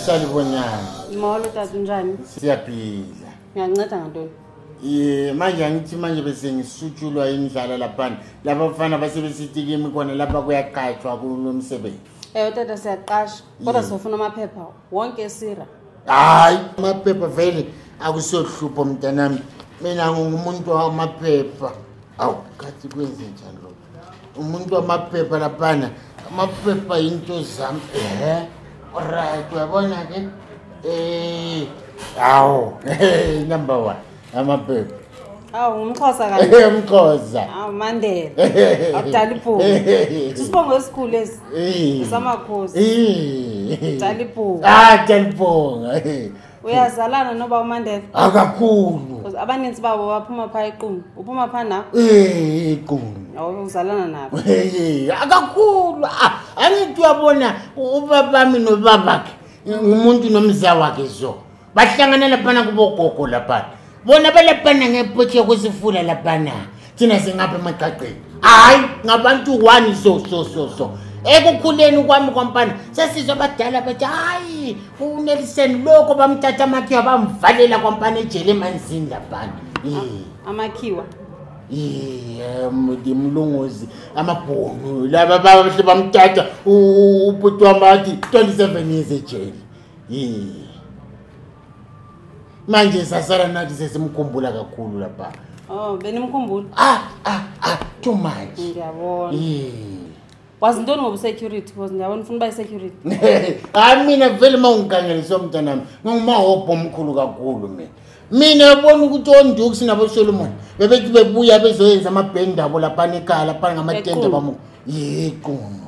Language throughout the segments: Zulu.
Salibonyana. Molo tata unjani? Siyaphila. Ngiyanceda ngantoni? Eh manje angithi manje bese ngisutshulwa indlala lapha. Laba bafana base besitikimi khona lapha kuyaqatshwa kulomsebenzi. Eh tata siyaqasha. Kodwa sifuna amaphepha wonke esira. Hayi, amaphepha vele akusohlupho mntanami. Mina ngingumuntu wamaphepha. awu kathi kwenzenjani lo umuntu wamaphepha laphana amaphepha yinto zami ehe right uyabona-ke um eh, awu number one amaphepha awu ngumxhosa kaumxhosa awu mandela akudala ibhuku sisibongo esikhulu esi samakhosi dala ibhuku ah dala ibhunga uyazalana noba umandela akakhulu Because abaninzi babo baphuma phaa equnu uphuma phaa na Eh, iqulu Awu, uzalana nabo Hey, akakhulu Ah, angithi uyabona u- ubabami nobabakhe ngumuntu nomza wakhe so bahlanganela phana kubogogo laphana bona balabhana ngepotshi yokusifula labhana thina singapha emaqaqeni hhayi ngabantu one so so so so ekukhuleni kwami kwamfana sesizwe abadala bethi hhayi uneliseni lokho bamthatha amakhiwa bamvalela kwamfana ejele emanzini labhana amakhiwa ndimlungozi amabhunu laba bahle bamthatha ubhuti wamathi 27 years ejele manje sasala nathi sesimkhumbula kakhulu lapha oh benimkhumbula ah ah ah too much ngiyabona wazi ntoni ngoba security because ndiyabona ufuna uba isecurity hayi mina vele uma ungigangeliswe mntanami ngingumahobho omkhulu kakhulu mina mina yabona ukuthi ondukusi nabosolomoni bebethi bebuya bezoyenza amabhendi abo laphana ekhaya laphana ngamatende bamu yequno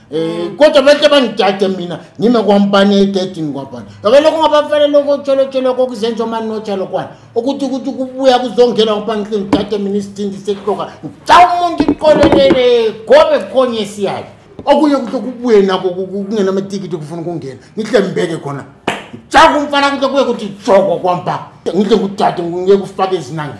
Eh kodwa bese bangidade mina ngime kwampani ededini kwabani. Ngoba lokho ngabafana lokho tsholo tsholo kokuzenza manje notshalo kwana. Ukuthi ukuthi kubuya kuzongena kwampani kini dade mina isithindi sekuhloka. Cha umuntu iqolelele gobe khonye siyayi. Okunye ukuthi kubuye nako kungena amatikiti kufuna ukungena. Ngihle mbeke khona. Cha kumfana ukuthi kuye ukuthi joko kwampa. Ngihle kudade ngeke ufake izinange.